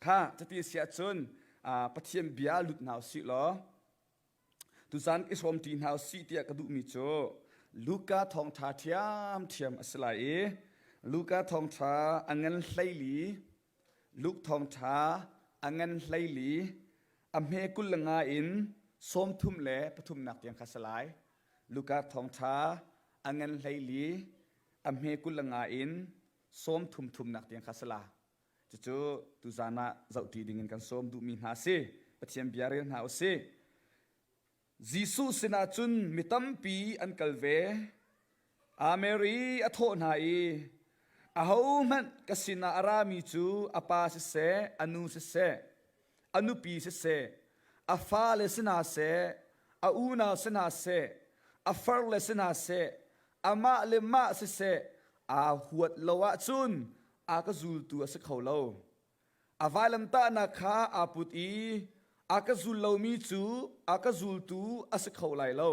Kha cuti a si ahcun Pathian bia lut hna u sih law tuzan i sawm ṭi hna u sih tiah ka duhmi cu Luka thawngṭha ṭhiamṭhiam a si lai i Luka thawngṭha a ngan hleili Luke thawngṭha a ngan hleili a hme kul le nga in sawmthum le pathumnak tiang kha a si lai. Luka thawngṭha a ngan hleili a hme kul le nga in sawmthum thumnak tiang kha a si lai. Cucu tuzan ah zohṭi dingin kan sawm duhmi hna si. Pathian bia rel hna u sih. Jesuh sinah cun mi tampi an kal ve. A Mary a thawh hna i, Ahohmanh ka sinah a rami cu a pa siseh, a nu siseh, a nupi siseh, a fale sinah seh, a unau sinah seh, a farle sinah seh, amah le mah siseh aa huat lo ahcun a ka zultu a si kho lo. A vailamtahnak kha aa put i a ka zul lomi cu a ka zultu a si kho lai lo.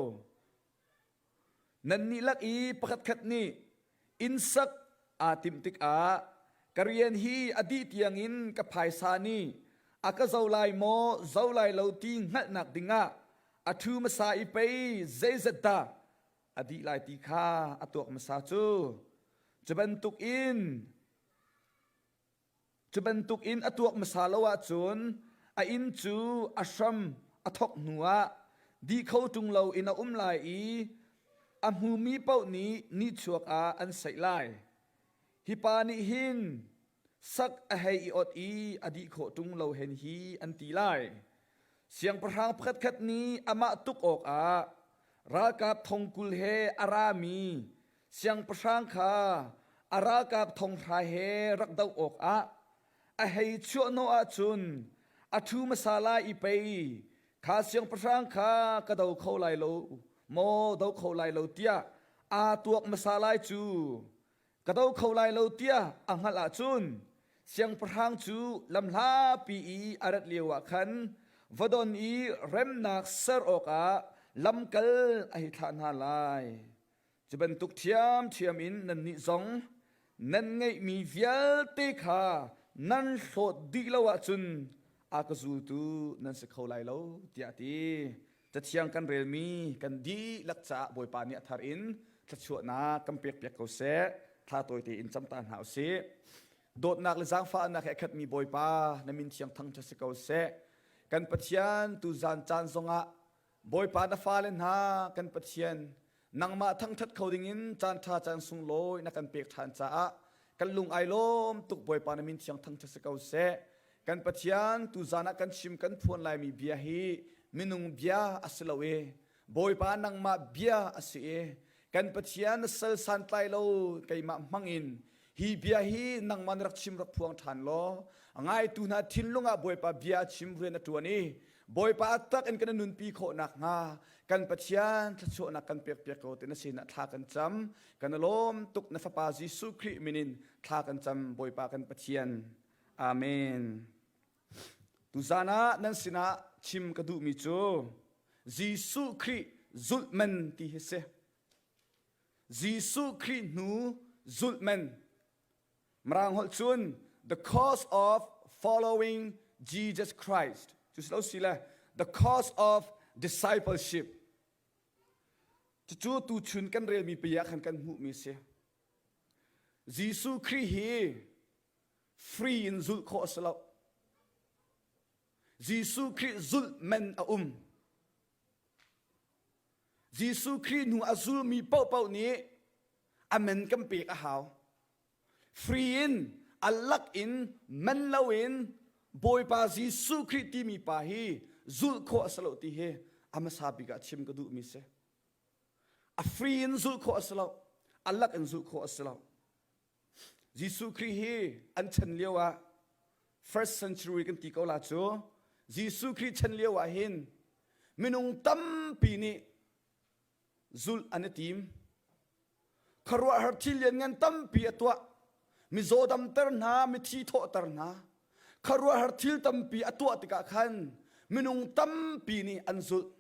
Nannih lak i pakhatkhat nih innsak aa timh tikah ka rian hi a dih tiangin ka phaisa nih a ka zo lai maw, zo lai lo ti hngalhnak dingah a ṭhu hmasa i pei zeizat dah a dih lai ti kha a tuak hmasa cu cu bantuk in cu bantuk in a tuak hmasa lo ahcun a inn cu a hram a thawk hnu ah di kho ṭung lo in a um lai i a hmumi paoh nih ni chuak ah an saih lai. Hi pa nih hin sak a hei i ot i a dih khawh ṭung lo hen hi an ti lai. Siangpahrang pakhatkhat nih amah tuk awkah ralkap thongkul he a rami siangpahrang kha a ralkap thonghra he rak doh awkah a hei chuahhnawh ahcun a ṭhu hmasa lai i pei kha siangpahrang kha ka do kho lai lo maw do kho lai lo tiah aa tuak hmasa lai cu. ka do kho lai lo tiah a hngalh ahcun siangpahrang cu lamhlapi i a rat lioah khan va don i remnak ser awkah lamkal a hei thlah hna lai. Cu bantuk ṭhiamṭhiam in nannih zong nan ngeihmi vialte kha nan hlawt dih lo ahcun a ka zultu nan si kho lai lo, tiah a ti. Cathiang kan relmi kan dihlak caah Bawipa nih a thar in thluachuahnak kan pekpiak ko seh. Tha tawi tein cam ta hna u sih. Dawtnak le zaangfahnak he a khatmi Bawipa na min thiang thangṭha si ko seh. Kan Pathian tu zan caan zongah Bawipa na fale hna kan Pathian nangmah thangṭhat kho dingin caanṭha caan sunglawi na kan pek ṭhan caah kan lung ai lawm tuk Bawipa na min thiang thangṭhat si ko seh kan Pathian tuzan ah kan chim kan phuan laimi bia hi minung bia a si lo i Bawipa nangmah bia a si i kan Pathian na sal santlai lo keimah hmangin hi bia hi nangman rak chim rak phuang ṭhan law ngaitu hna thinlung ah bawipa bia chim rian a ṭuan i bawipa tak in kan nunpi khawh nakhnga kan pathian thluachuahnak kan pekpiak ko tina sinah thla kan cam kan lawm tuk na fapa jesuh khrih minin thla kan cam bawipa kan pathian amen tuzan ah nan sinah chim ka duhmi cu jesuh khrih zulhman ti hi si Jesuh Khrih hnu zulhman. Mirang holh cun the cause of following Jesus Christ. Cu si lo si le the cause of discipleship. Cucu tuchun kan relmi pia khan kan hmuhmi si. Jesuh Khrih hi free in zulh khawh a si lo. Jesuh Khrih zulh men a um. Jesuh Khrih hnu a zulmi paohpaoh nih amen kan pek a hau. Free in allak in man loin Bawipa Jesuh Khrih timi pa hi zulh khawh a si lo ti hi a hmasa bik ah chim ka duhmi si. A free in zulh khawh a si lo. Allak in zulh khawh a si lo. Jesuh Khrih hi an chan lio ah first century kan ti ko la cu Jesuh Khrih chan lio ah hin minung tampi nih zulh an i tim. Khuaruahhar thil lianngan tampi a tuah. Mizaw damter hna, mithi thawhter hna. Khuaruahhar thil tampi a tuah tikah khan minung tampi nih an zulh.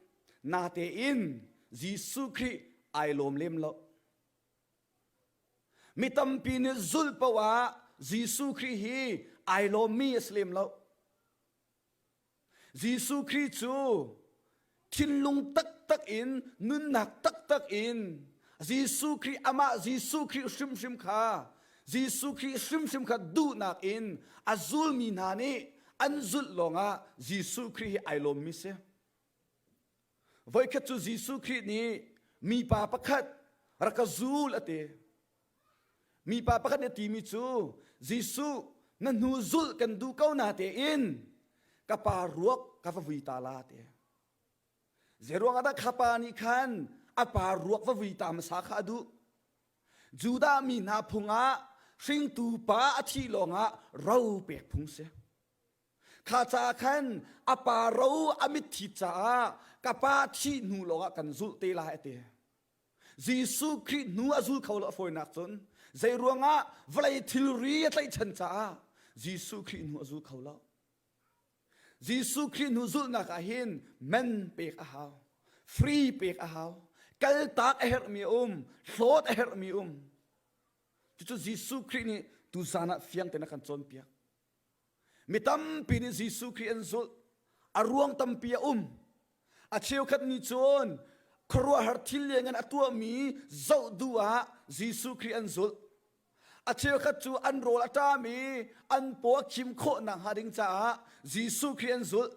Natein Jesuh Khrih ai lawm lem loh. Mi tampi nih zulh paoh ah Jesuh Khrih hi ai lawmmi a si lem lo. Jesuh Khrih cu thinlung taktak in, nunnak taktak in Jesuh Khrih amah Jesuh Khrih hrimhrim kha Jesuh Khrih hrimhrim kha duhnak in a zulmi hna nih an zulh lawngah Jesuh Khrih hi ai lawmmi si. Voikhat cu Jesuh Khrih nih mipa pakhat rak ka zul a ti. Mipa pakhat nih a timi cu Jesuh na hnu zulh kan duh ko na tein ka pa ruak ka va vui ta la ti. Zeiruang ah dah kha pa nih khan a pa ruak va vui ta hmasa kha a duh? Judah mi hna phung ah hringtu pa a thih lawngah ro pek phung si. Kha caah khan a pa ro a mitthi caah ka pa thih hnu lawngah kan zulh te lai a ti. Jesuh Khrih hnu a zul kho lo a fawinak cun zei ruangah vawlei thilri a tlaihchan caah Jesuh Khrih hnu a zul kho lo. Jesuh Khrih hnu zulhnak ah hin men pek a hau, free pek a hau, kaltak a herhmi a um, hlawt a herhmi a um. Cucu Jesuh Khrih nih tuzan ah fiang tein a kan cawnpiak. Mi tampi nih Jesuh Khrih an zulh. A ruang tampi a um. A cheukhat nih cun khuaruahhar thil lianngan a tuahmi zoh du ah Jesuh Khrih an zulh. A cheukhat cu an rawl a ṭam i an paw a khim khawh nakhnga ding caah Jesuh Khrih an zulh.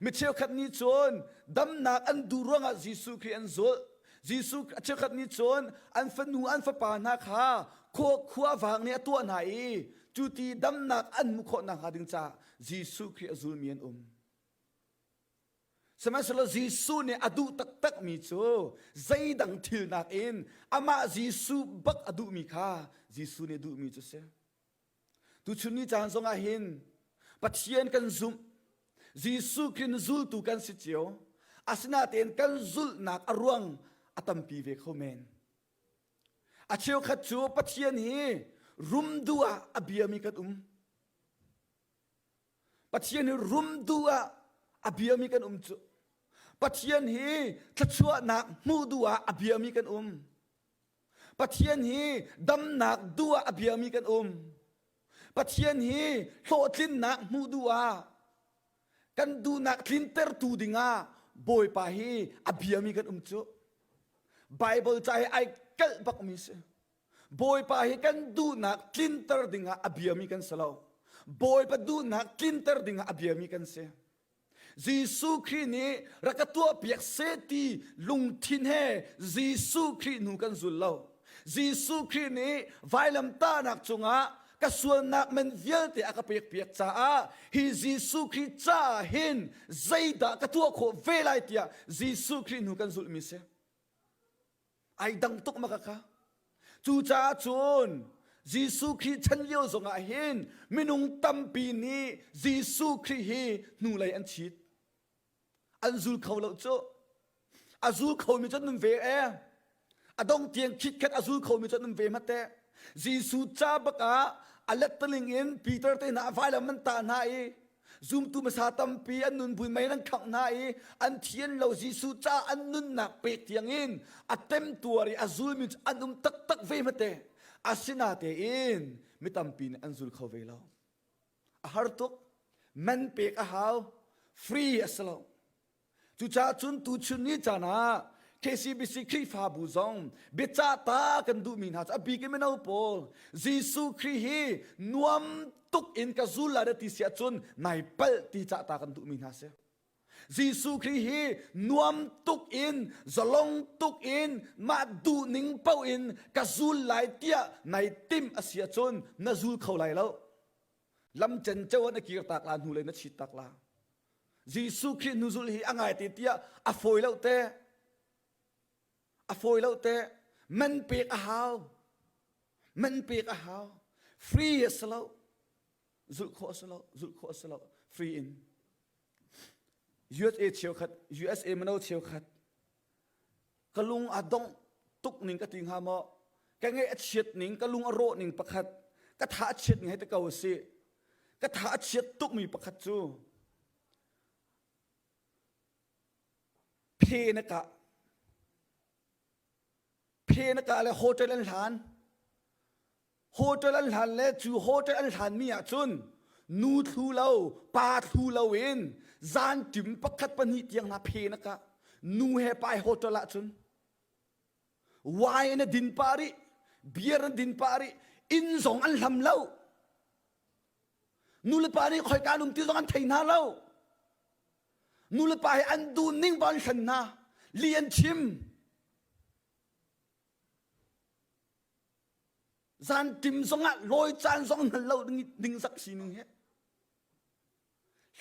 Mi cheukhat nih cun damnak an duh ruangah Jesuh Khrih an zulh. Jesuh a cheukhat nih cun an fanu an fapa hna kha khua khuavang nih a tuah hna i cu ti damnak an hmuh khawh nakhnga ding caah Jesuh Khrih a zulmi an um. Sihmanhsehlaw Jesuh nih a duh taktakmi cu zeidang thil nakin amah Jesuh bak a duhmi kha Jesuh nih a duhmi cu a si. Tuchun ni caan zongah hin Pathian kan zumh Jesuh Khrih zultu kan si cio asinatein kan zulhnak a ruang a tampi ve kho men a cheukhat cu Pathian hi rumdu ah a biami kan um Pathian hi rumdu ah a biami kan um cu Pathian hi thluachuahnak hmuh duh ah a biami kan um Pathian hi damnak duh ah a biami kan um. Pathian hi hlawhtlinnak hmuh duh ah kan duhnak tlintertu dingah Bawipa hi a biami kan um cu. Bible ca hi ai kalh bakmi si. Bawipa hi kan duhnak tlinter dingah a biami kan si lo. Bawipa duhnak tlinter dingah a biami kan si. Jesuh Khrih nih rak ka tuahpiak seh ti lungthin he Jesuh Khrih hnu kan zul lo. Jesuh Khrih nih vailamtahnak cungah ka sualnak men vialte a ka pekpiak caah hi Jesuh Khrih caah hin zeidah ka tuah khawh ve lai tiah Jesuh Khrih hnu kan zulhmi si. ai dang tuk ma kaka cucaah cun Jesuh Khrih chan lio zongah hin minung tampi nih Jesuh Khrih hi hnulei an chit an zul kho lo cu a zul khomi cu nun ve e a dong tiang khit khat a zul khomi cu nun ve ma te Jesuh ca bakah a lettaling in Peter te hna a vailam an tah hna i zumtu hmasa tampi an nunpui mei nan khangh hna i an thian lo Jesuh ca an nunnak pek tiang in a temtuar i a zulmi cu an um taktak ve hmate asinatein mi tampi nih an zul kho ve lo a har tuk man pek a hau free a si lo Cucaah cun tuchun ni caan ah KCBC Khrihfabu zong biacah ta kan duhmi hna cu a bik in mino pawl Jesuh Khrih hi nuam tuk in ka zul lai ti si ahcun nai palh ti cah ta kan duhmi hna si. Jesuh Khrih hi nuam tuk in zalong tuk in mah duhning paoh in ka zul lai tiah nai tim a si ahcun na zul kho lai lo. Lam cenceo na kir tak la, hnulei na chit tak la. Jesuh Khrih nuzul hi a ngai te tiah a fawi lo te. A fawi lo te. Man pek a hau. Man pek a hau. Free a si lo. Zulh khawh a si lo. Zulh khawh a si lo. Free in. USA cheukhat, USA mino cheukhat ka lung a dongh tuk ning ka ti hnga maw ka ngeih a chiat ning ka lung a rawh ning pakhat ka tha a chiat ngai te ko a si ka tha a chiat tukmi pakhat cu phe na ka phe na ka le hotel an hlan Hotel an hlan le cu hotel an hlanmi ah cun nu thlu lo pa thlu lo in zan tim pakhat pahnih tiang hna phenak ah nu he pai hotel ah cun wine in a din pah rih beer an din pah rih inn zong an hlam lo nulepa nih khoika lum ti zong an thei hna lo nulepa he an dun ning ba an hlan hna li an chim Zantim zongah lawi caan zong hman lo ningzak sining hi.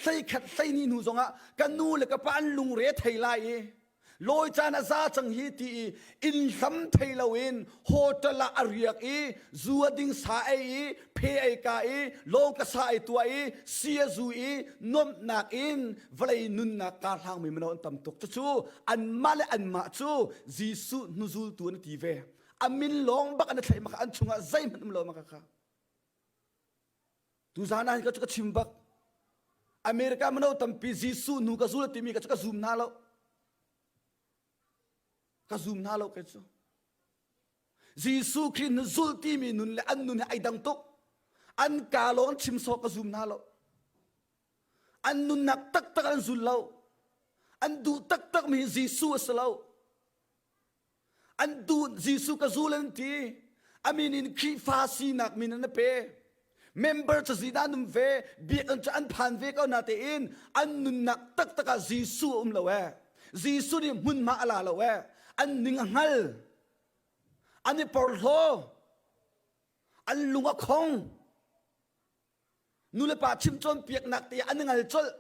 Hlei khat hlei ni hnu zongah ka nu le ka pa an lungre thei lai i lawi caan a za cang hi ti i inn hlam thei loin hotel ah a riak i zu a ding sa ei i phe ei ka i lawng ka sa ei tua i sia zu i nuamhnak in vawlei nunnak ka hlangmi mino an tam tuk cucu anmah le anmah cu Jesuh hnuzultu an ti ve a min lawng bak an i thlaih maka an chungah zeihmanh um lo maka kha tu zan ah ka chu ka chim bak america mano tampi jesuh nu ka zul timi ka chu ka zum na lo ka zum na lo ke chu jesuh khrist nu zul timi nun le an nun he ai dang tuk an ka lawng chim so ka zum na lo an nunnak taktak an zul lo an duh taktak mi jesuh a si lo an duh Jesuh ka zul an ti amin in Khrihfa sinak min an pe member cu zi dan um ve biakam cu an phan ve ko na tein an nunnak taktak ah Jesuh um lo e Jesuh nih hmun ma ala lo e an ning a ngal an i porhlaw an lung a khong Nulepa chim cawnpiaknak te an ngal colh.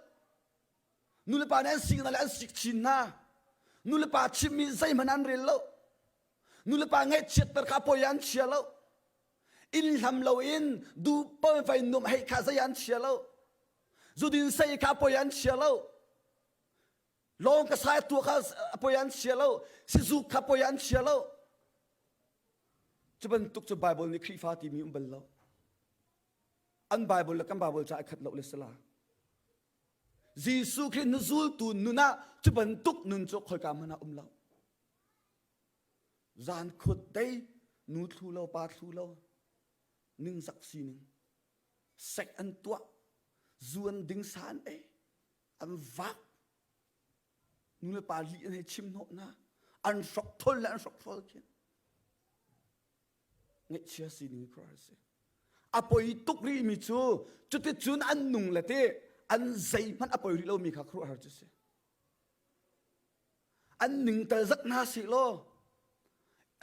Nulepa nih an sing hna le an sik chin hna. Nulepa chimmi zeihmanh an rel lo. Nulepa ngaihchiatter kha poi an chia lo. Inn hlam loin duhpoi fai nuamh hei kha zei an chia lo. Zudin sei kha poi an chia lo. lawng ka sa tua kha a poi an chia lo sizuk kha poi an chia lo cu bantuk cu bible nih khrihfa timi um bal lo an bible le kan bible ca ai khat lo le sala jesuh khrih nu zultu nun ah cu bantuk nun cu khoika hmana um lo zan khut dei nu thlu lo pa thlu lo ning zak sining sek an tuah zuan ding san ei an vak nulepa li an hei chim hnawh hna an hrok thol le an hrok thol khin ngeihchia sining kra a si a poi tuk rih mi cu cuticun an nung le te an zei hmanh a poi rih lomi kha kruah har cu si an ningtal zak hna si law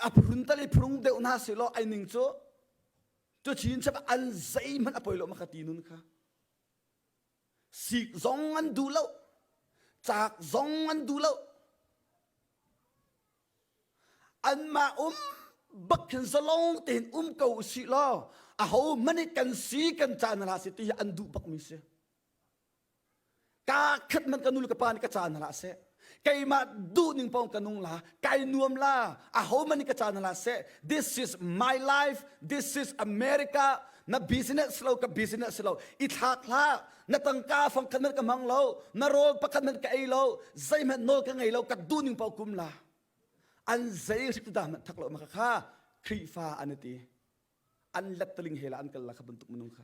a phurun tal i phurung deuh hna si law ai ning cu cu chin chap an zei hmanh a poi lo ma ka ti nun kha Sik zong an duh lo. Caak zong an duh lo. Anmah um bak khin zalong tein um ko usih law aho hmanh i kan si kan caan hna si ti hi an duh bakmi si. Ka khat man ka nu le ka pa nih ka caan hna seh. keimah duhning pawng ka nung la kai nuam la aho man ka caan la se this is my life this is america na business lo ka business lo i thlak hla na tangka fang khan ka hmang lo na rol pakhat man ka ei lo zeihmanh no ka ngei lo ka duning pau kum la an zei rik da man thak lo ma kha Khrihfa an ti an lettaling hela an kal la kha bantuk minung kha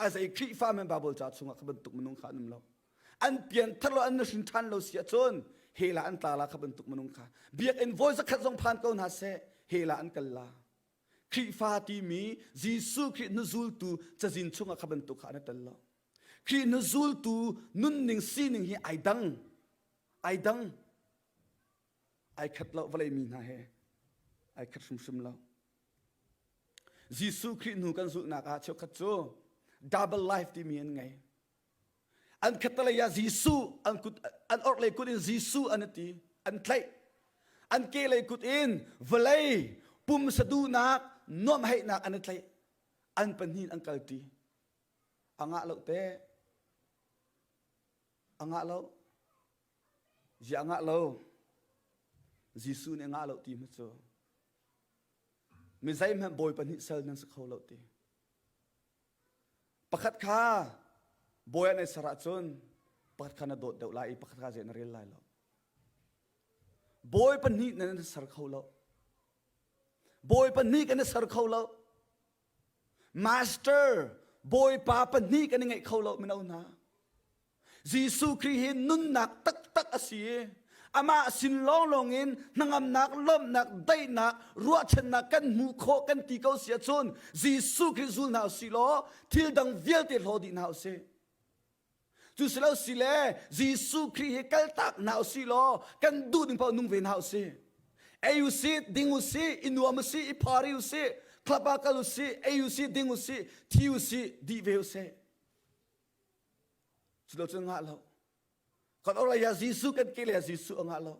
a zei Khrihfa men Bible ca chungah kha bantuk minung kha an um lo an pian thar lo an na hrin than lo si ahcun hela an tla la kha bantuk minung kha biakinn voi zakhat zong phan ko hna seh hela an kal la Khrihfa timi Jesuh Khrih nu zultu cazin chungah kha bantuk kha an tel lo Khrih nu zultu nunning sining hi ai dang ai dang ai khat lo vawlei mi hna he ai khat hrimhrim lo Jesuh Khrih hnu kan zulhnak ah cheukhat cu double life timi an ngei an khatalei ah Jesuh an kut an orhlei kut in Jesuh an ati an tlaih an kehlei kut in vawlei pum saduhnak nuamheihnak an i tlaih an pahnih an kalti angah lo te angah lo Yi a ngah lo. Jesuh nih a ngah lo ti hmanh cu. Mi zeihmanh bawi pahnih sal nan si kho lo ti. Pakhat kha bawi an ei ser ahcun pakhat kha na dawt deuh lai i pakhat kha zei na rel lai lo. Bawi pahnih nan ser kho lo. Bawi pahnih kan i ser kho lo. Master, Bawipa pahnih kan i ngeih kho lo mino hna. Jesuh Khrih hi nunnak taktak a si i amah sin lawnglawng in hnangamnak, lawmhnak, daihnak, ruahchannak kan hmuh khawh kan ti ko si ahcun Jesuh Khrih zul hna u si law thil dang vialte hlaw dih hna u sih. Cu si lo si le Jesuh Khrih hi kaltak hna u si law kan duh ning paoh nung ve hna u si. Ei u si, ding u si, i nuam u si, i phari u si, club ah kal u si, ei u si, ding u si, thi u si, di ve u sih. Cu lo cun ngah lo. Kan ora ya Jesuh kan ke le Jesuh a ngah lo.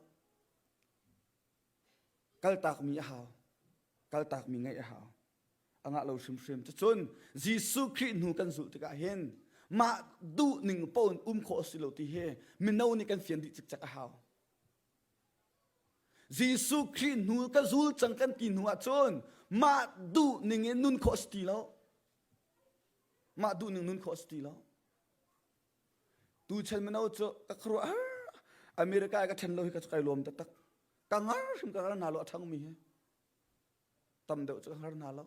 Kaltak mi a hau. Kaltak mi ngaih a hau. a ngah lo hrimhrim. Cun Jesuh Khrih hnu kan zulh tikah hin mah duhning pawn um khawh a si lo ti hi mino nih kan fian dih cikcek a hau. Jesuh Khrih hnu ka zul cang kan ti hnu ah cun mah duhning in nun khawh a si ti lo. Mah duhning nun khawh a si ti lo. Tu chan mino cu ka khuaruah har America i ka ṭhen lo hi ka kai lawm taktak. Ka ngar hrim ka ngar na lo a ṭhangmi hi. tam deuh cu har na lo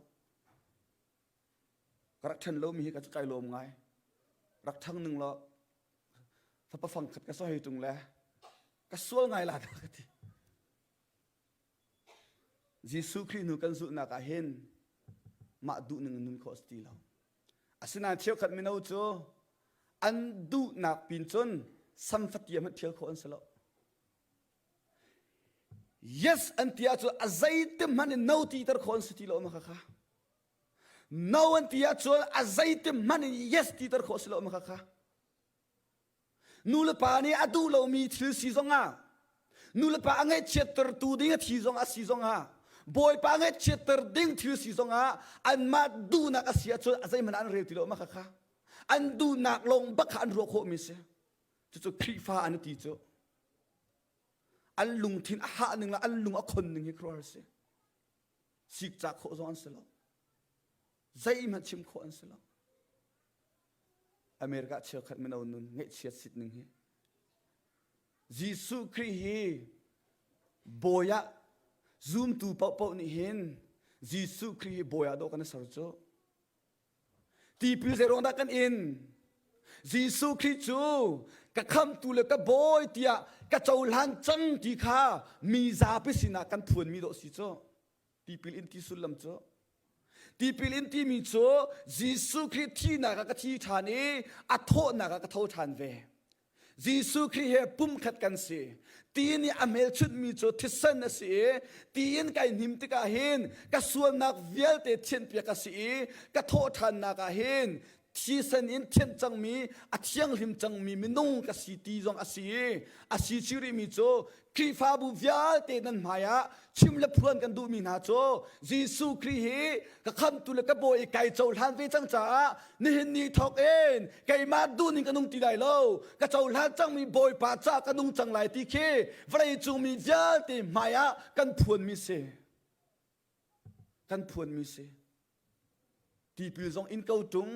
ka rak ṭhen lomi hi ka cu kai lawm ngai rak thang ning law fapa fangkhat ka soi tung le ka sual ngai la ka ti Jesuh Khrih hnu kan zulhnak ah hin mah duh ning nun kho si ti lo asinain cheukhat mino cu an duhnak pin cun samfatiam han thial khawh an si lo Yes an ti ahcun a zeitik hmanh in no titer khawh an si ti lo ma khakha. No an ti ahcun a zeitik hmanh in yes titer khawh si lo ma khakha. Nu le pa nih a duh lomi thil si zong ah, nu le pa a ngaihchiattertu ding a thi zong ah si zong ah, bawipa ngaihchiatter ding thil si zong ah, anmah duhnak a si ahcun a zeihmanh an rel ti lo ma khakha. An duhnak lawng bak kha an ruah khawhmi si. cucu Khrihfa an ti cu an lungthin a hah ning le an lung a khon ning hi khuaruah si sik cah khawh zong an si lo zeihmanh chim khawh an si lo America cheukhat mino nun ngeihchiat sit ning hi Jesuh Khrih hi bawi ah zumtu paohpaoh nih hin Jesuh Khrih hi bawi ah dawh kan i ser cu tipil zeiruang dah kan in Jesuh Khrih cu ka khamtu le ka bawi tiah ka cohlan cang ti kha mi zapi sinah kan phuanmi dawh si cu tipil in ti sullam cu tipil in timi cu Jesuh Khrih thihnak ah ka thi ṭhan i a thawhnak ah ka tho ṭhan ve Jesuh Khrih he pumkhat kan si. Ti nih a hmelchunhmi cu thisen a si i tiin kai hnim tikah hin ka sualnak vialte thianpiak a si i ka thawhṭhannak ah hin thisen in thianh cangmi a thianghlim cangmi minung ka si ti zong a si i a si chih rihmi cu Khrihfabu vialte nan hmai ah chim le phuan kan duhmi hna cu Jesuh Khrih hi ka khamtu le ka bawi i kai cohlan ve cang caah nihin ni thawk in keimah duhning ka nung ti lai lo ka cohlan cangmi Bawipa ca ka nung cang lai ti khi vawleicung mi vialte hmai ah kan phuanmi si. kan phuanmi si tipil zong in ko ṭung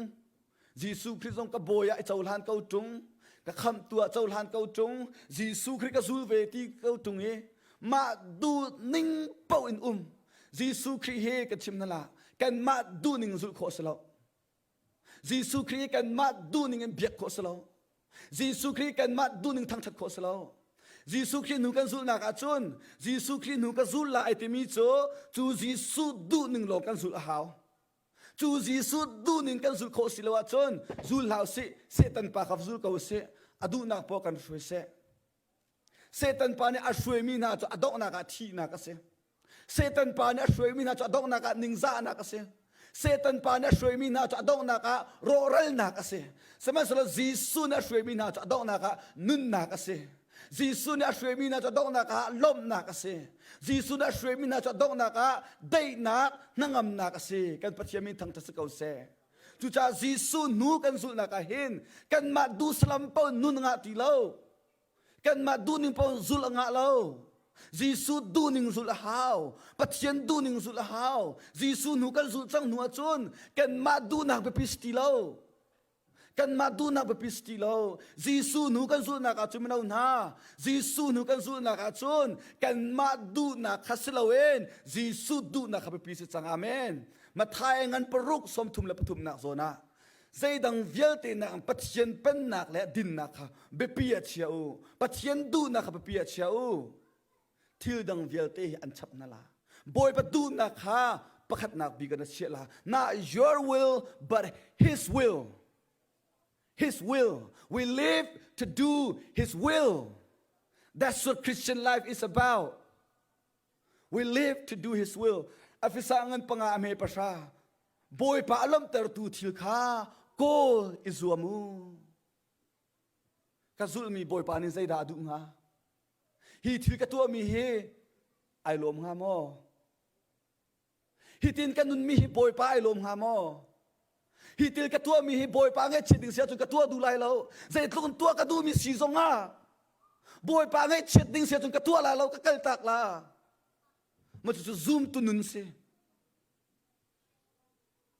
Jesuh Khrih zong ka bawi ah i cohlan ko ṭung ka khamtu ah cohlan ko ṭung Jesuh Khrih ka zul ve ti ko ṭung i mah duhning paoh in um Jesuh Khrih he ka chim hna la kanmah duhning zulh khawh a si lo Jesuh Khrih kanmah duhning in biak khawh si lo. Jesuh Khrih kanmah duhning thangṭhat khawh si lo. Jesuh Khrih nu kan zulhnak ahcun Jesuh Khrih nu ka zul lai timi cu cu Jesuh duhning lawng kan zulh a hau. Cu Jesuh duhning kan zulh khawh si lo ahcun zul hlah usih, Satan pa kha va zul ko usih, a duhnak paoh kan hruai seh. Satan pa nih a hruaimi hna cu a donghnak ah thihnak a si. Satan pa nih a hruaimi hna cu a donghnak ah ningzahnak a si. Satan pa nih a hruaimi hna cu a donghnak ah rawhralnak a si. Sihmanhsehlaw Jesuh nih a hruaimi hna cu a donghnak ah nunnak a si. Jesuh nih a hruaimi hna cu a donghnak ah lawmhnak a si. Jesuh nih a hruaimi hna cu a donghnak ah daihnak, hnangamnak a si. Kan Pathian min thangṭhat si ko seh. Cucaah Jesuh nu kan zulhnak ah hin kanmah duhsalam paoh nun a ngah ti lo. Kanmah duhning paoh zulh a ngah lo. Jesuh duhning zulh a hau. Pathian duhning zulh a hau. Jesuh nu kan zulh cang hnu ahcun kanmah duhnak biapi si ti lo. Kanmah duhnak biapi si ti lo. Jesuh nu kan zulhnak ahcun mino hna, Jesuh nu kan zulhnak ahcun kanmah duhnak kha si loin Jesuh duhnak kha biapi si cang. Amen. Matthai ngan paruk sawmthum le pathumnak zawn ah zeidang vialte nak in Pathian pennak le dinnak kha biapi ah chia u Pathian duhnak kha biapi ah chia u thil dang vialte hi an chap na la Bawipa duhnak kha pakhatnak bik in a chiah la not your will but his will his will we live to do his will that's what Christian life is about We live to do his will. Afisa ngan panga a me pasha. Bawipa a lomhtertu thil kha kawl i zuam u. Ka zulmi Bawipa nih zeidah a duh hnga? Hi thil ka tuahmi hi ai lawm hnga maw? Hitin ka nunmi hi Bawipa ai lawm hnga maw? Hi til ka tuahmi hi Bawipa ngaihchiat ding si ahcun ka tuah duh lai lo. Zeitluk in tuah ka duhmi si zong ah Bawipa ngaihchiat ding si ahcun ka tuah la lo, ka kal tak la. Macucu zumtu nun si.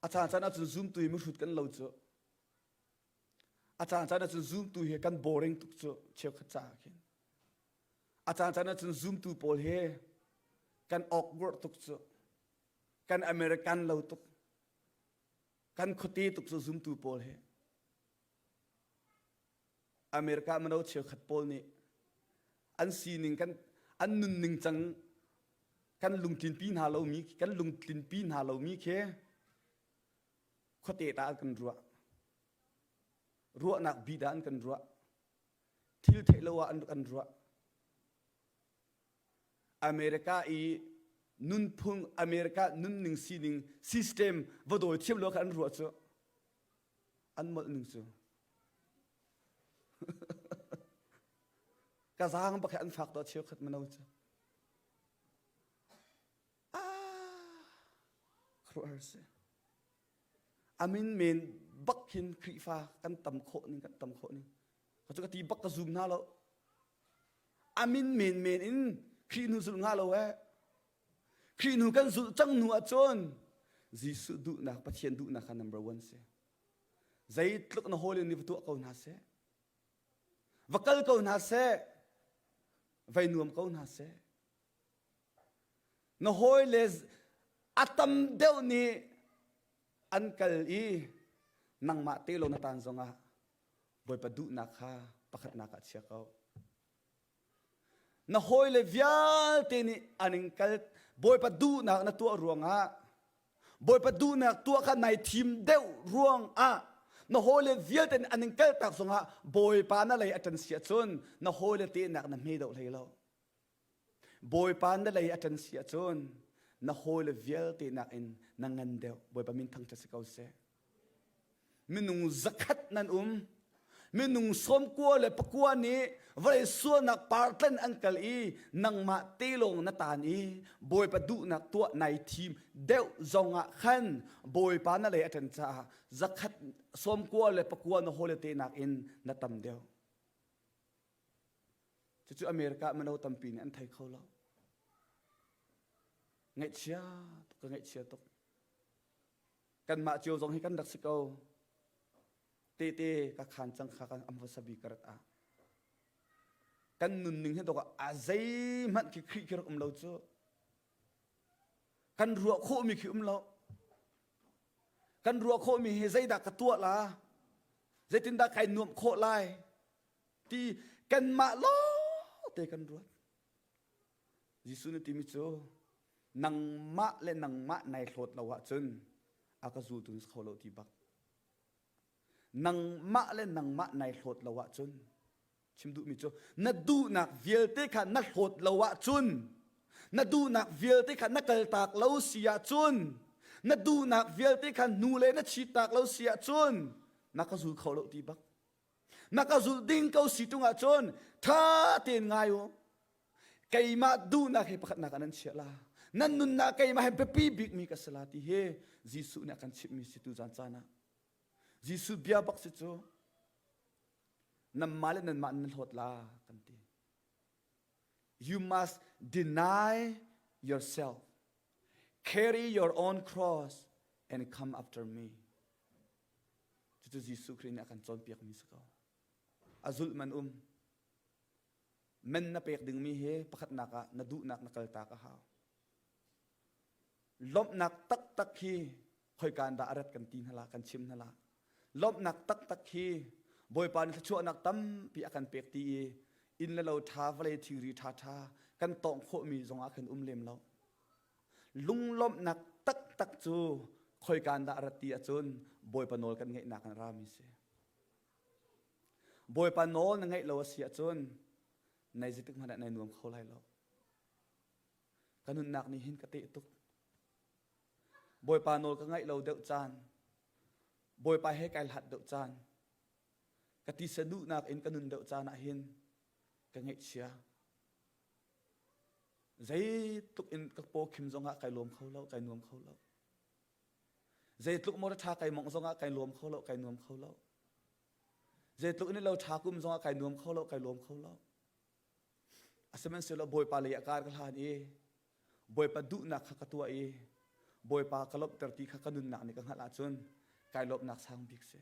A caan caan ahcun zumtu hi mihrut kan lo cu. A caan caan ahcun zumtu hi kan boring tuk cu cheukhat caah khin. A caancaan ah cun zumtu pawl he kan awkward tuk cu. Kan American lo tuk. Kan khuate tuk cu zumtu pawl he. America mino cheukhat pawl nih an sining kan an nunning cang kan lungtlinpi hna lomi kan lungtlinpi hna lomi khi khuate ta an kan ruah. Ruahnak bi dah an kan ruah. thil theih lo ah an rak an ruah. America i nunphung, America nunning sining system va dawi thiam lo kha an ruah cu an molh ning cu ka zaang bak he an fak to cheu khat mano cu ah khuar si a min men bak hin Khrihfa kan tam khawh ning kan tam khawh ning ka cu ka ti bak ka zum hna lo a min men men in Khrih nu zulh hna lo eh Khrih nu kan zulh cang nu ahcun Jesuh duhnak Pathian duhnak kha number one si zeitluk na hawle nih va tuah ko hna seh va kal ko hna seh vai nuam ko hna seh Na hawile a tam deuh nih an kal i nangmah te lo na taan zongah Bawipa duhnak kha pakhatnak ah chia ko. Na hawile vialte nih an in kal Bawipa duhnak na tuah ruangah Bawipa duhnak tuah kha nai thim deuh ruangah na hawile vialte nih an in kaltak zongah Bawipa na lei a ṭan si ahcun na hawile tehnak na hme deuh hlei lo. Bawipa na lei a ṭan si ahcun na hawile vialte nakin na ngan deuh. Bawipa min thangṭhat si ko seh. Minung zakhat nan um. Minung sawmkua le pakua nih vawlei sualnak partlan an kal i nangmah te lawng na tan i Bawipa duhnak tuah nai thim deuh zongah khan Bawipa na lei a ṭan caah zakhat sawmkua le pakua na hawile te nakin na tam deuh. Cucu America ah mino tampi nih an thei kho lo. Ngaihchia tuk ka ngaihchia tuk. Kanmah cio zong hi kan rak si ko. Tete ka khan cang kha kan am vasa bi karat ah. Kan nunning hi dok a zei hmanh khi khrih khi rak um lo cu. Kan ruah khawh mi khi um lo. Kan ruah khawh mi hi zeidah ka tuah la? Zeitin dah kai nuamh khawh lai? ti kanmah lawng te kan ruat Jesuh nih timi cu nangmah le nangmah nai hlawt lo ahcun a ka zultu na kho lo ti bak nangmah le nangmah nai hlawt lo ahcun chim duhmi cu na duhnak vialte kha na hlawt lo ahcun na duhnak vialte kha na kaltak lo si ahcun na duhnak vialte kha nu le na chit tak lo si ahcun na ka zul kho lo ti bak na ka zulh ding ko si ṭung ahcun ṭha tein ngai u keimah duhnak hi pakhatnak ah nan chiah la nan nunnak keimah he biapi bikmi ka si la ti hi Jesuh nih a kan chimhmi si tu zan caan ah Jesuh bia bak si cu nanmah le nanmah nan hlawt la kan ti you must deny yourself carry your own cross and come after me Cucu Jesuh Khrih nih a kan cawnpiakmi si ko. A zulh man um. Men na pek dingmi he pakhatnak ah na duhnak na kaltak a hau. Lawmhnak taktak hi khoikan dah a rat kan ti hnala kan chim hnala. Lawmhnak taktak hi Bawipa nih thluachuahnak tampi a kan pek ti i inn le lo tha vale thingri tha tha kan tawng khawhmi zongah khin um lem lo. Lunglawmhnak taktak cu khoika dah rat ti ahcun Bawipa nawl kan ngaihnak in rami si. Bawipa nawl na ngaih lo a si ahcun nai zeitik hmanh ah nai nuam kho lai lo. Ka nunnak nih hin ka teh tuk. Bawipa nawl ka ngaih lo deuh caan, Bawipa he kai hlat deuh caan, ka tisa duhnak in ka nun deuh caan ah hin ka ngaihchia. Zeitluk in ka pawkhim zongah kai lawm kho lo, kai nuam kho lo. Zeitluk maw ṭha kai mongh zongah kai lawm kho lo, kai nuam kho lo. Zeitluk in lo ṭha kum zongah kai nuam kho lo, kai lawm kho lo. Asihmanhsehlaw Bawipa lei a kar ka hlan i Bawipa duhnak kha ka tuah i Bawipa ka lawmhter ti kha ka nunnak nih ka hngalh ahcun kai lawmhnak sang bik si.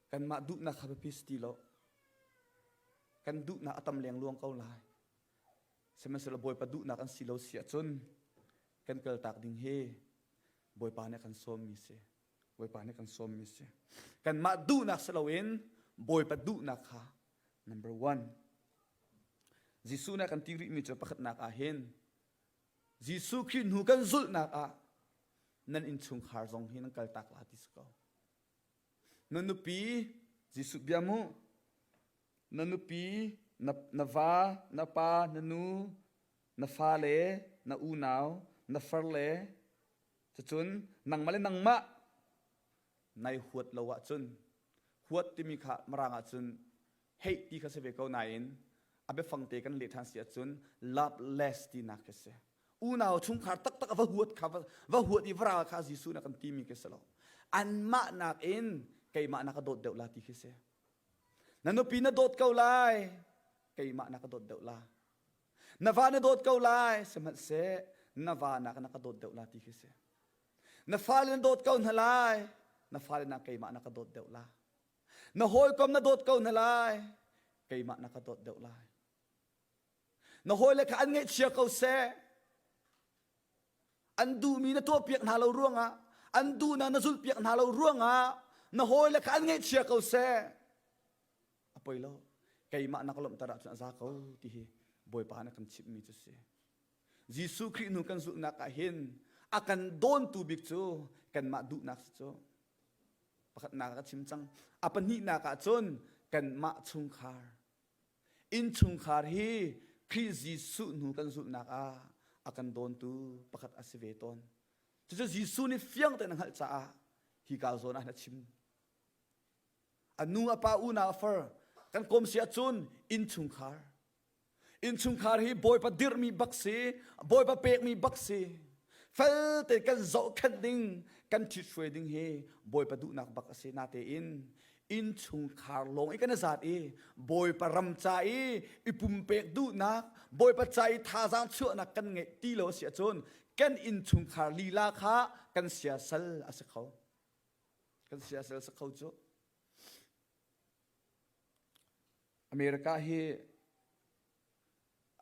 Kanmah duhnak kha biapi si ti lo. Kan duhnak a tam lengluang ko lai. Sihmanhsehlaw Bawipa duhnak an si lo si ahcun kan kaltak ding hi Bawipa nih kan sawmmi si. Bawipa nih kan sawmmi si. Kanmah duhnak si loin Bawipa duhnak kha number one. Jesuh nih a kan ti rihmi cu pakhatnak ah hin Jesuh Khrih hnu kan zulhnak ah nan innchungkhar zong hi nan kaltak la ti si ko. Na nupi Jesuh biam u. Na nupi, na, na va, na pa, na nu, na fale, na unau, na farle, cucun nangmah le nangmah nai huat lo ahcun huat timi kha marang ahcun Heih ti kha si ve ko nain a biafang te kan leh ṭhan si ahcun loveless tinak khi a si. Unau chungkhar taktak a va huat kha va huat i vara kha Jesuh nih a kan timi khi si lo. Anmah nakin keimah na ka dawt deuh la ti khi si. Na nupi na dawt ko lai, keimah na ka dawt deuh la. Na va na dawt ko lai, sihmanhseh na va na na ka dawt deuh la ti khi si. Na fale na dawt ko hna lai, na fale na keimah na ka dawt deuh la. na hawikom na dawt ko na lai keimah na ka dawt deuh lai na hawile kha an ngaihchia ko seh an duhmi na tuahpiak hna lo ruangah an duhnak na zulhpiak hna lo ruangah na hawile kha an ngaihchia ko seh a poi lo keimah na ka lawmhter ahcun a za ko ti hi bawipa na kan chimhmi cu si Jesuh Khrih nu kan zulhnak ah hin a kan dawntu bik cu kanmah duhnak si cu pakhatnak a chim cang a pahnihnak ah cun kanmah chungkhar innchungkhar hi Khrih Jesuh hnu kan zulhnak ah a kan dawntu pakhat a si ve tawn cucu Jesuh nih fiang tein a hngalh caah hi ka zawn ah hin a chim a nu a pa unau a far kan kawm si ahcun innchungkhar Innchungkhar hi Bawipa dirhmi bak si, Bawipa pekmi bak si. Felte kan zohkhenh ding, kan ṭhithruai ding hi Bawipa duhnak bak a si. Natein innchungkhar lawng i kan zat i Bawipa ram ca i i pumpek duhnak, Bawipa ca i thazaang chuahnak kan ngeih ti lo a si ahcun kan innchungkhar lila kha kan siasal a si kho. Kan siasal si kho cu. America hi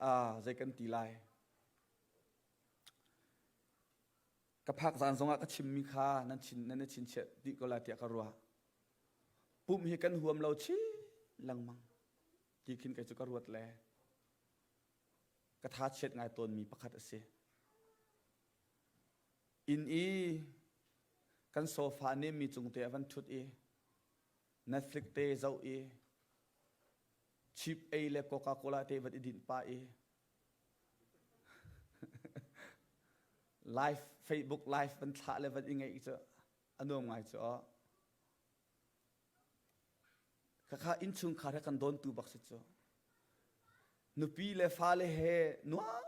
uh, zei kan ti lai? Ka phak zan zongah ka chimmi kha nan chin nan chin chiah dih ko la tiah ka ruah. Pum hi kan huam lo chi lengmang ti khin kai cu ka ruat le ka tha chiat ngai tawnmi pakhat a si. Inn i kan sofa ne mi cung te a van thut i Na hrik te zoh i chip ei le Coca Cola te vat i dinh pah i live Facebook live van thlah le van i ngeih cu a nuam ngai cu a khakha innchungkhar he kan dawntu bak si cu nupi le fale he nuam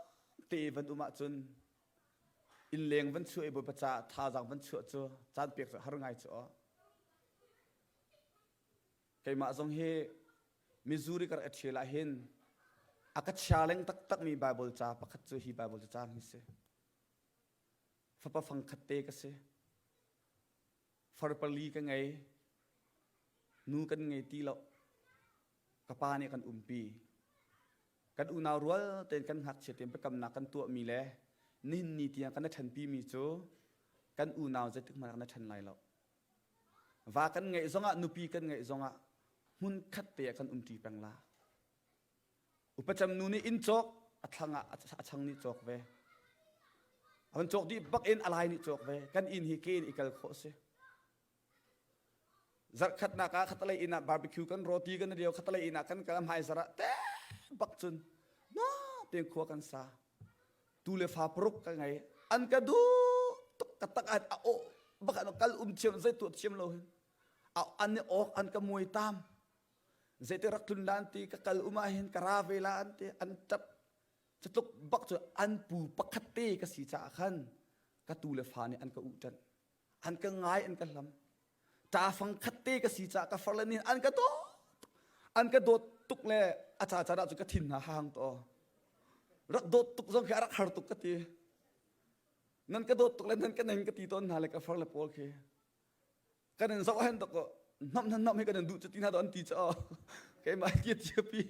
te van um ahcun Innleng van chuah i Bawipa caah thazaang van chuah cu caan pek cu har ngai cu aw. Keimah zong hi Missouri ka rak ṭhial ah hin a ka chia leng taktakmi Baibal ca pakhat cu hi Baibal cu caan hi si. Fapa fangkhat te ka si. Far pali ka ngei. Nu kan ngei ti loh. ka pa nih kan umpi. Kan unau rual tein kan ngakchia tein biakamnak kan tuahmi le nihin ni tiang kan na ṭhanpimi cu kan unau zeitik hmanh ah na ṭhan lai lo. Va kan ngeih zongah, nupi kan ngeih zongah hmunkhat te ah kan umṭi peng la. Upacam nu nih inn cawk a thlang ah a chang nih cawk ve. A van cawk dih bak in a lai nih cawk ve. Kan inn hi ke in i kal khawh a si. Zarhkhatnak ah khatalei inn ah barbecue kan roti kan rio khatalei inn ah kan kal hmaizar ah te bak cun na tein khua kan sa tu le fa paruk ka ngei an ka du tuk ka tak an a o bak an kal um thiam zei tu thiam lo hin a an ni ok an ka muai tam zei te rak tlun lan ti ka kal uma hin ka ra ve la an ti an tap catluk bak cu an pu pakhat te ka si caah khan ka tu le fa nih an ka u tan an ka ngai an ka hlam ta fang khat te ka si cha ka far le nin an ka do an ka dot tuk le a cha cha da chu ka thin na hang to rak dot tuk zong khi arak har tuk ka ti nan ka dot tuk le nan ka nen ka ti ton na le ka far le pol khi kan in zo hen to ko nam nan nam hi kan du chu tina do an ti cha ke mai ki ti pi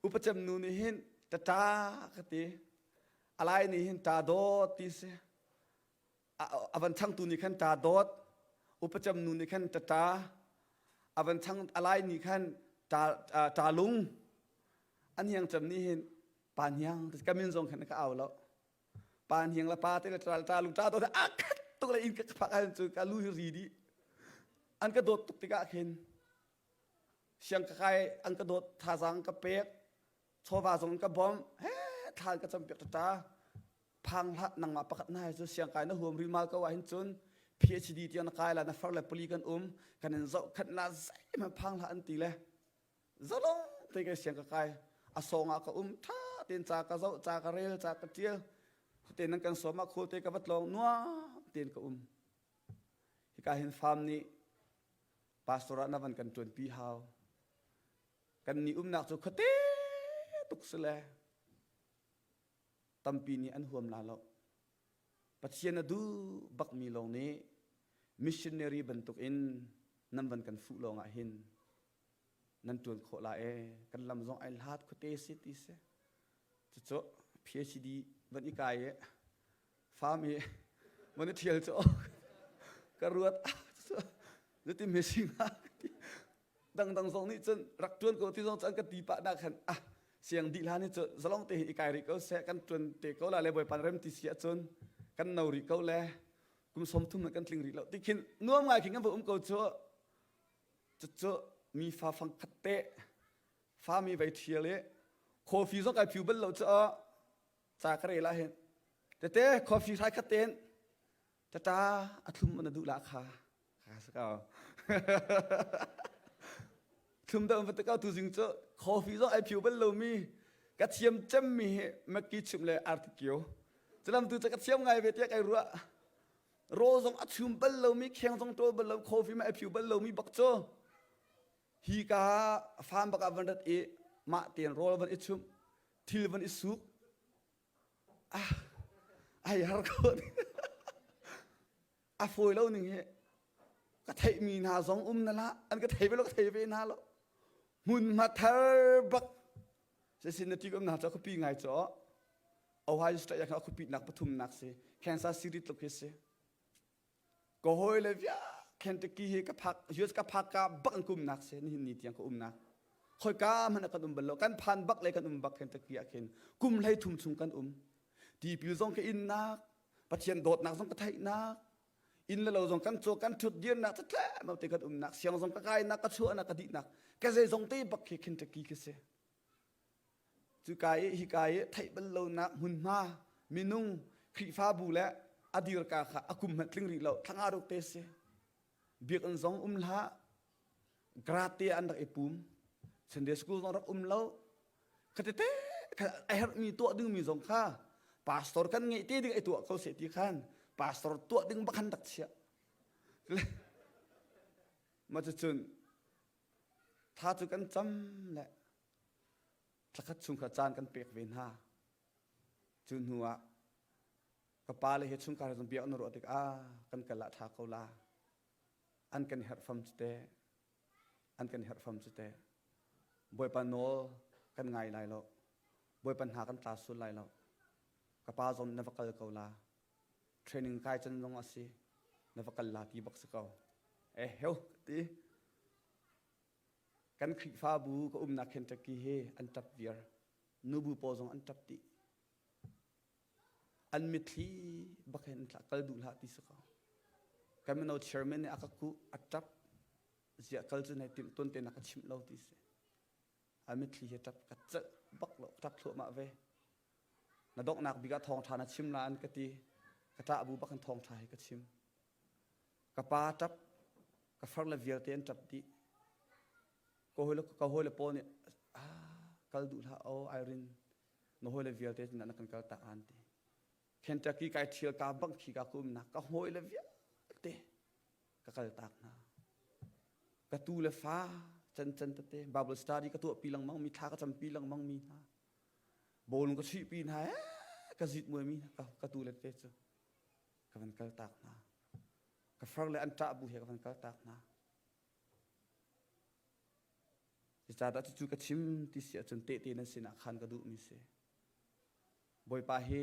upacam nu ni hin ta ta ka ti alai ni hin ta do ti se a van changtu nih khan ṭa dawt upacam nu nih khan ṭa ṭa a van chang a lai nih khan ṭa ṭa lung an hiangcam nih hin pa niang ka min zong khan ka au lo pa niang le pa te le ṭa ṭa lung ṭa dawt a khat tuk le in ka phak han cu ka lu hi ri dih an ka dawt tuk tikah khin siang ka kai an ka dawt thazang ka pek chawva zong in ka bawmh he thla in ka campiak tata phang hlat nangmah pakhat na hai cu siang kai na huam ri mal ko ah hin cun PhD tiang na kai la na far le pali kan um kan in zoh khat na zeim han phang hlat an ti le zalong te ke siang ka kai a song ah ka um tha ten cha ka zo cha ka rel cha ka tial te nan kan soma khol te ka bat long nuwa ten ka um hi ka hin farm ni pastora na van kan tuan pi hau Kannih umnak cu khuate tuk si le tampi nih an huam la lo. Pathian a duh bakmi lawng nih missionary bantuk in nan van kan fuh lawng ah hin nan ṭuan khawh la ee kan lam zong ai hlat khuate si ti si cucu PhD van i kai i fam i mone thial cu ka ruat zati mesing ha dangdang zong nih cun rak tuan ko ti zong cun ka ti pa da khan ah siang di la ni cu zalong te i kai ri ko se kan tuan te ko la le boipan rem ti sia cun kan no ri ko le kum som thum kan tling ri lo tikhin nuam ngai king va um ko chu chu mi fa fang khat te fa mi vai thial e coffee zong kai phiu bal lo chu ca ka rel ah hin tete coffee hrai khat ten tata athlum na duh la kha kha sa ka thlum da va ka tu zing chu coffee zo ai phiu bal lomi ka thiam cem mi hi makki chim le artikio chalam tu cha ka thiam ngai ve tiak ai ruwa ro zong a chum bal lomi kheng zong tol bal lo coffee ma ai phiu bal lomi bak cho hi ka farm baka van rat i ma ten rol van i chum thil van i suk ah ai har ko a fawi lo ning hi ka theih mi hna zong um na la an ka thei ve lo ka thei ve hna lo hmun ma thar bak se sin na ti kom na ta ka pi ngai cho Ohio State ya kha ku pi nak pathum nak si Kansas City tluk hi si ka hawi le via Kentucky hi ka phak US ka phak ka bak an kumnak se ni ni tiang ka umnak khoi ka hmana kan um bal lo kan phan bak le kan um bak Kentucky ah khin kum hlei thum chung kan um tipil zong ka innak pathian dawtnak zong ka theihnak in le lo zong kan cho kan thut dirnak ta tle mau te kan umnak siang zong ka kainak ka chuanak ka dihnak ka zei zong te bak khi Kentucky ka se Cuka i hika i theih bal lonak hmunhma, minung, Khrihfabu le a dirka kha a kum hmanh tling rih lo thlanga ruk te si. Biakinn zong um hlah, garate an rak i pum. Sunday school zong rak um lo. Khatete a herhmi tuah dingmi zong kha pastor kan ngeih te ding ai tuah ko seh ti khan pastor tuah ding bakhan dak chiah. Mah cu cun tha cu kan cam le Thlakhat chung kha caan kan pek ve hna. Cu hnu ah ka pa le he chungkar he biak na ruah tikah kan kal ah ṭha ko la. An kan herh fam cu teh. An kan herh fam cu teh. Bawipa nawl kan ngai lai lo. Bawipa hna kan tla sul lai lo. Ka pa zong na va kal ko la. Training kai can zong a si. Na va kal la ti bak si ko. Eh heo ti. Kan Khrihfabu ka umnak Kentucky hi an ṭap viar. Nubu pawl zong an ṭap dih. An mitthli bak hin tla kal duh hlah ti si ko. Kan mino chairman nih a ka kuh, a ṭap. Ziah kal cu nai timh tuan te na ka chimh lo ti si. A mitthli hi ṭap ka celh bak lo, ṭap thluahmah ve. Na donghnak bik ah thawng ṭha na chim nain ka ti. Ka ṭah bu bak in thawng ṭha hi ka chim. Ka pa ṭap, ka far le vialte an ṭap dih. Ka hawile, ka hawile pawl nih kal duh hlah aw Irene, na hawile vialte sinah na kan kal ta aan ti. Kentucky kai ṭhial kaa bangh khi kaa kumnak ka hawile vialte ka kal taak hna. Ka tu le fa cancan tete Bible study ka tuahpi lengmangmi, thla ka campi lengmangmi hna, bawlung ka chuihpi hna ee ka zitmuaimi hna ka tu le te cu. ka van kaltak hna. Ka far le an ṭah bu he ka van kaltak hna. Cucaah cucu ka chim ti si ahcun tehte nan sinah khan ka duhmi si. Bawipa he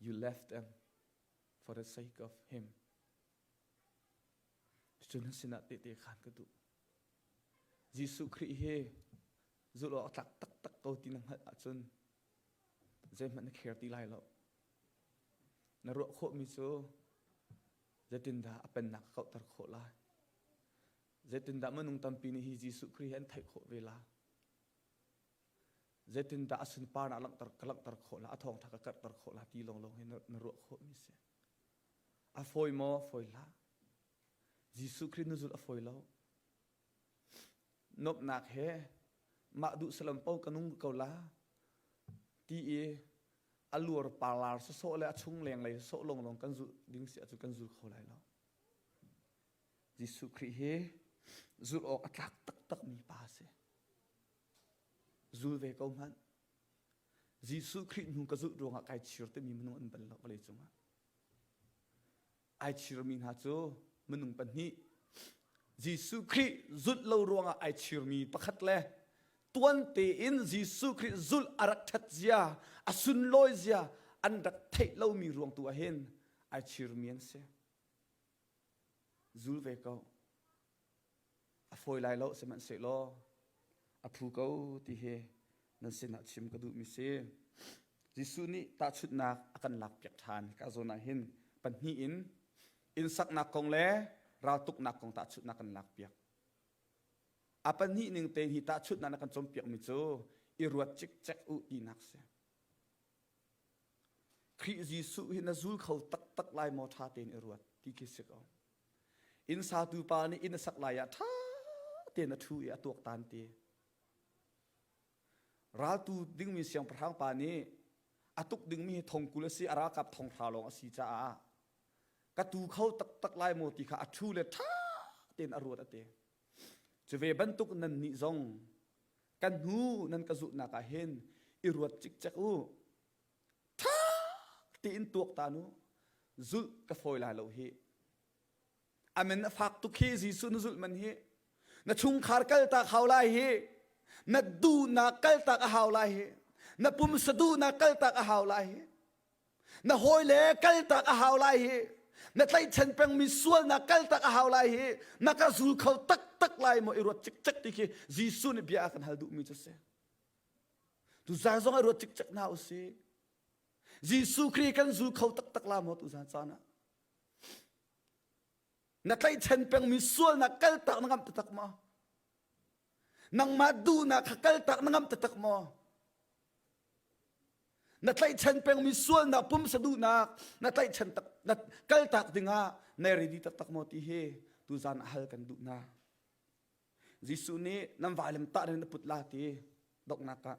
You left them for the sake of him. Cucu na sinah tehte khan ka duh. Jesuh Khrih he zulh awk tlak taktak ko ti na hngalh ahcun zeihmanh na care ti lai lo. Na ruah khawhmi cu zeitindah a pennak kauhter khawh lai? Zeitindah minung tampi nih hi Jesuh Khrih he an theih khawh ve lai? zeitindah a sunpar ah ka langhter khawh la a thawngṭha ka karhter khawh la ti lawnglawng hi na ruah khawhmi si a fawi maw fawi hlah jesuh khrih na zulh a fawi lo nuamhnak he mah duh salam po ka nung ko la ti i a luar parlar sasawh le a chung leng lei sawh lawnglawng kan zul ding si acu kan zul kho lai lo jesuh khrih hi zulh awk a tlak taktakmi pa a si Zul ve ko hmanh. Jesuh Khrih hnu ka zulh ruangah kai chir timi minung an bal lo vawlei cungah. Ai chirmi hna cu minung pahnih Jesuh Khrih zulh lo ruangah ai chirmi pakhat le tuan tein Jesuh Khrih zulh a rak ṭhat zia, a sunlawi zia an rak theih lomi ruang tu ah hin ai chirmi an si. Zul ve ko. A fawi lai lo sihmanhsehlaw a phu ko ti hi nan sinah chim ka duhmi si. Jesuh nih tahchunhnak a kan lakpiak ṭhan ka zawn ah hin pahnih in innsaknak kong le raltuknak kong tahchunhnak kan lakpiak. A pahnih ning tein hi tahchunhnak na kan cawnpiakmi cu i ruat cikcek u tinak si. Khrih Jesuh hi na zul kho taktak lai maw ṭha tein i ruat ti khi si ko. Innsatu pa nih inn a sak lai ah ṭha tein a ṭhu i a tuaktan ti. Raltu dingmi siangpahrang pa nih a tuk dingmi hi thongkul a si, a ralkap thonghra lawng a si caah ka tu kho taktak lai maw ti kha a ṭhu le ṭha tein a ruat a ti. Cu ve bantuk nannih zong kan hnu nan ka zulhnak ah hin i ruat cikcek u ṭha tiin tuak ta nu zulh ka fawi lai lo hi amen na fak tuk hi jesuh na zulh man hi na chungkhar kalta khau lai hi na duhnak kaltak a hau lai hi na pum saduhnak kaltak a hau lai hi na hawile kaltak a hau lai hi na tlaihchan pengmi sualnak kaltak a hau lai hi na ka zul kho taktak lai maw i ruat cikcek ti khi Jesuh nih bia a kan hal duhmi cu si tu zan zong i ruat cikcek na usih Jesuh Khrih kan zul kho taktak la maw tu zan caan ah na tlaihchan pengmi sualnak kaltak na ngamh tatak maw nangmah duhnak kha kaltak na ngamh tatak maw Na tlaihchan pengmi sualnak pum saduhnak na tlaihchan tak na kaltak dingah nai ready taktak maw ti hi tuzan a hal kan duh na Jesuh nih nan vailam tah na put la ti doknak ka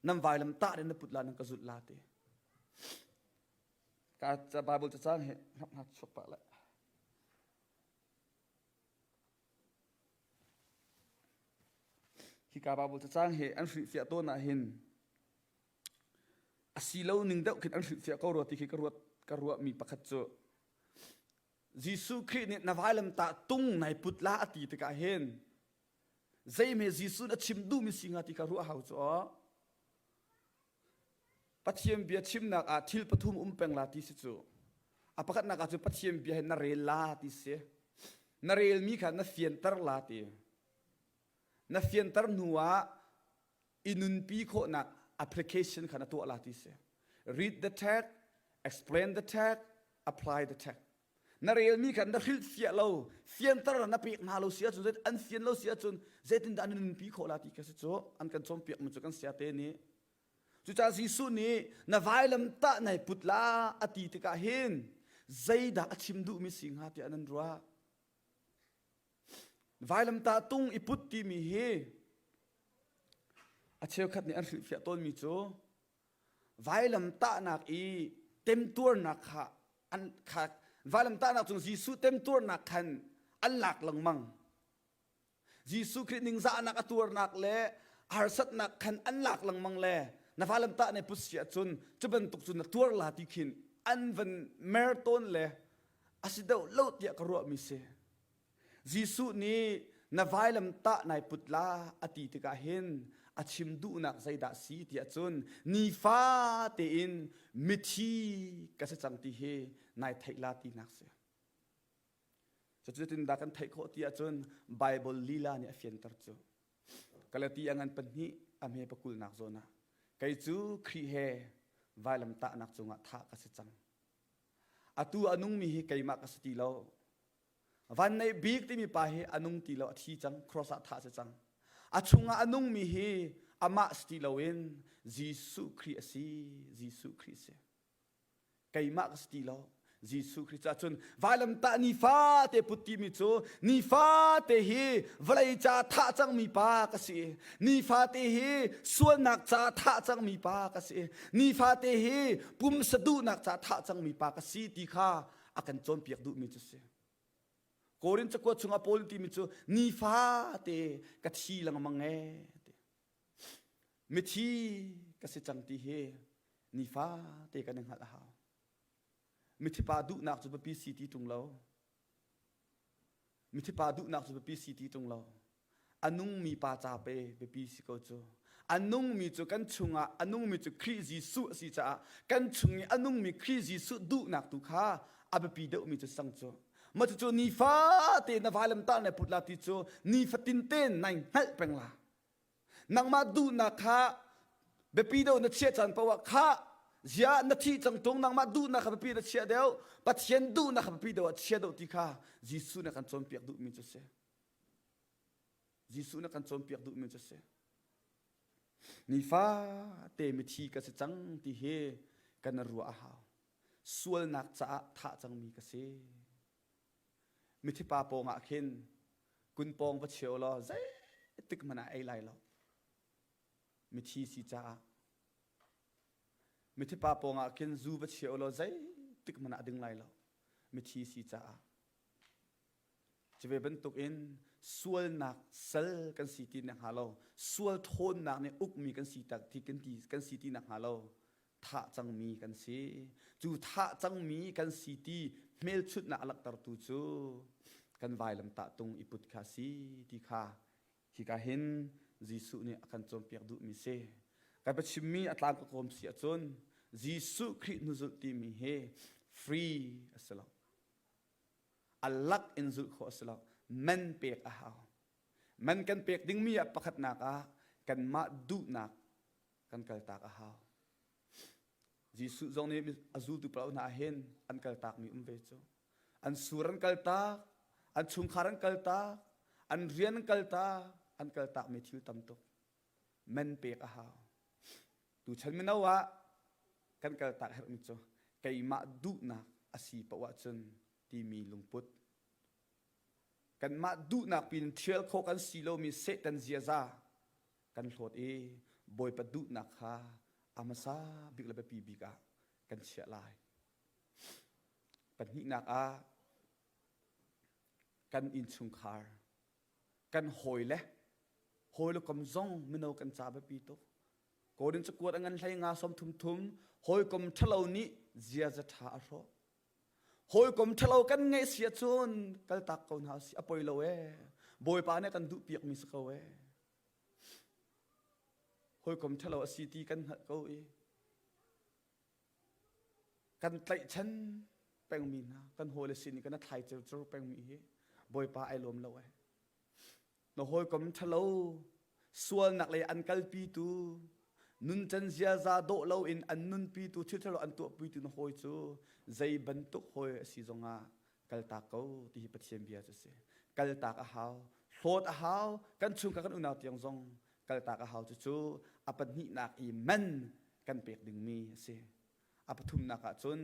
nan vailam tah na put la nan ka zut la ti ka Bible cacang hi hap hap chuk pa la Hika Bible cacang hi an hrilhfiah tawn ahhin a si lo ning deuh khin an hrilhfiah ko rua ti khi ka ruat ka ruahmi pakhat cu Jesuh Khrih nih na vailam tah tung nai put la a ti tikah hin zeime Jesuh na chim duhmi si hnga ti kha ruah hau cu aw Pathian bia chimnak ah thil pathum um peng la ti si cu. A pakhatnak ah cu Pathian bia hi na rel la ti si. Na relmi kha na fianter la ti. Na fianter hnu ah i nunpi khawhnak application kha na tuah la ti si. Read the tag, explain the tag, apply the tag. Na relmi kha na hrilhfiah lo, fianter na pek hna lo si ahcun, zeitin an fian lo si ahcun, zeitindah an nunpi khawh la ti kha si cu an kan cawnpiakmi cu kan siate nih. Cucaah Jesuh nih na vailam tah nai put la a ti tikah hin zeidah a chim duhmi si hnga tiah nan ruah. Vailam tah tung i put timi hi a cheukhat nih an hrilhfiah tawnmi cu Vailam tahnak i temtuarnak kha an kha vailam tahnak cung Jesuh temtuarnak khan an lak lengmang. Jesuh Khrih ningzahnak a tuarnak le harsatnak khan an lak lengmang le na valam tah ne put si ahcun cu bantuk cun na tuar la ti khin an van mer tawn le a si deuh lo tiah ka ruahmi si. Jesuh nih na vailam tah nai put la a ti tikah hin a chim duhnak zeidah si tiah cun nifa tein mithi ka si cang ti hi nai theih la tinak si. Cutin dah kan theih khawh ti ahcun Baibal lila nih a fianter cu. Galati angan pahnih a hme pakulnak zawn ah kei cu Khrih he vailam tahnak cungah thah ka si cang. Atu a nungmi hi keimah ka si ti lo. Van Neih Bik timi pa hi a nung ti lo a thi cang cross ah thah a si cang a chungah a nungmi hi amah si ti loin Jesuh Khrih a si Jesuh Khrih a si keimah ka si ti lo Jesuh Khrih cah cun vailamtah nifate put timi cu nifate hi vawlei ca thah cangmi pa ka si nifate hi sualnak ca thah cangmi pa ka si nifate hi pumsa duhnak ca thah cangmi pa ka si ti kha a kan cawnpiak duhmi cu si korin cakua chungah paul timi cu nifa te ka thi lengmang e ti mithi ka si cang ti hi nifa te kan in hngalh a hau mithipa duhnak cu biapi si ti tung lo Mithipa duhnak cu biapi si ti tung lo. A nungmi pa ca pe biapi si ko cu. A nungmi cu kan chungah a nungmi cu Khrih Jesuh a si caah kan chung i a nungmi Khrih Jesuh duhnak tu kha a biapi deuhmi cu sang cu. Mah cucu nifa te na vai lamtah na put la ti cu nifatin te nai hngalh peng la. nangmah duhnak kha biapi deuh na chiah caan paoh ah khah ziah na thih cang tung nangmah duhnak kha biapi na chiah deuh pathian duhnak kha biapi deuh ah chia deuh ti kha jesuh nih a kan cawnpiak duhmi cu a si jesuh nih a kan cawnpiak duhmi cu a si nifate mithi ka si cang ti hi kan ruah a hau sualnak caah thah cangmi ka si Mithipa pawngah khin kun pawng va chia u law zeitik hmanh ah ei lai lo. Mithi si caah. Mithipa pawngah khin zu va chia u law zeitik hmanh ah ding lai lo. Mithi si caah. Cive bantukin sualnak sal kan si ti nek hnga lo, sual ṭhawnnak nih ukmi kan si ti kan ti kan si ti nek hnga lo, thah cangmi kan si. Cu thah cangmi kan si ti hmelchunhnak a langhtertu cu kan vailamtah tung i put kha si ti kha hika hin Jesuh nih a kan cawnpiak duhmi si. Kan chimmi a tlang ka kawm si ahcun Jesuh Khrih hnuzulh timi hi free a si lo. A lak in zulh khawh a si lo. Man pek a hau. Man kan pek dingmi ah pakhatnak ah kanmah duhnak kan kaltak a hau. Jesuh zong nih a zultu pa hna hin an kaltakmi um ve cu. An sur an kaltak, an chungkhar an kaltak, an rian an kaltak, an kaltakmi thil tam tuk men pek a hau. Tuchan mino ah kan kaltak herhmi cu keimah duhnak a si paoh ahcun timi lungput. Kanmah duhnak pin thial khawh kan si lomi Satan ziaza kan hlawt i Bawipa duhnak kha a hmasa bik le biapi bik ah kan chiah lai. Pahnihnak ah kan innchungkhar, kan hawi le hawi le kom zong mino kan ca biapi tuk. Kodin cakuat angan hlei nga som thum thum hawi kom ṭhalo nih ziaza ṭha a hrawh. Hawi kom ṭhalo kan ngeih sia cun kaltak ko hna si a poi lo e. Bawipa nih kan duh piak mi si ko e. hawikom ṭhalo a si ti kan hngalh ko i kan tlaihchan pengmi hna kan hawile sin i kana thlai ceu pengmi hi bawipa ai lawm lo ai na hawikom ṭhalo sualnak lei an kalpitu nuncan ziaza dawh loin an nunpitu thil ṭhalo an tuahpuitu na hawi cu zei bantuk hawi a si zongah kaltak ko ti hi Pathian bia cu a si. Kaltak a hau, hlawt a hau, kan chungka kan unau tiang zong kaltak a hau cucu a pahnihnak i man kan pek dingmi a si. A pathumnak ah cun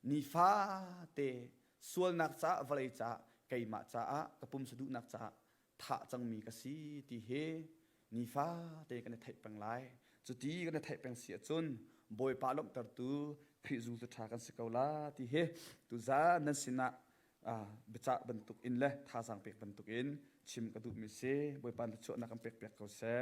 nifate sualnak caah vawlei caah keimah caah ka pumsa duhnak caah thah cangmi ka si ti hi nifate kan i theih peng lai. Cuti kan i theih peng si ahcun Bawipa lawmhtertu Khrih zumtu ṭha kan si ko la ti hi tuzan nan sinah biacah bantuk in le thazaang pek bantuk in chim ka duhmi si. Bawipa thluachuahnak kan pekpiak ko seh.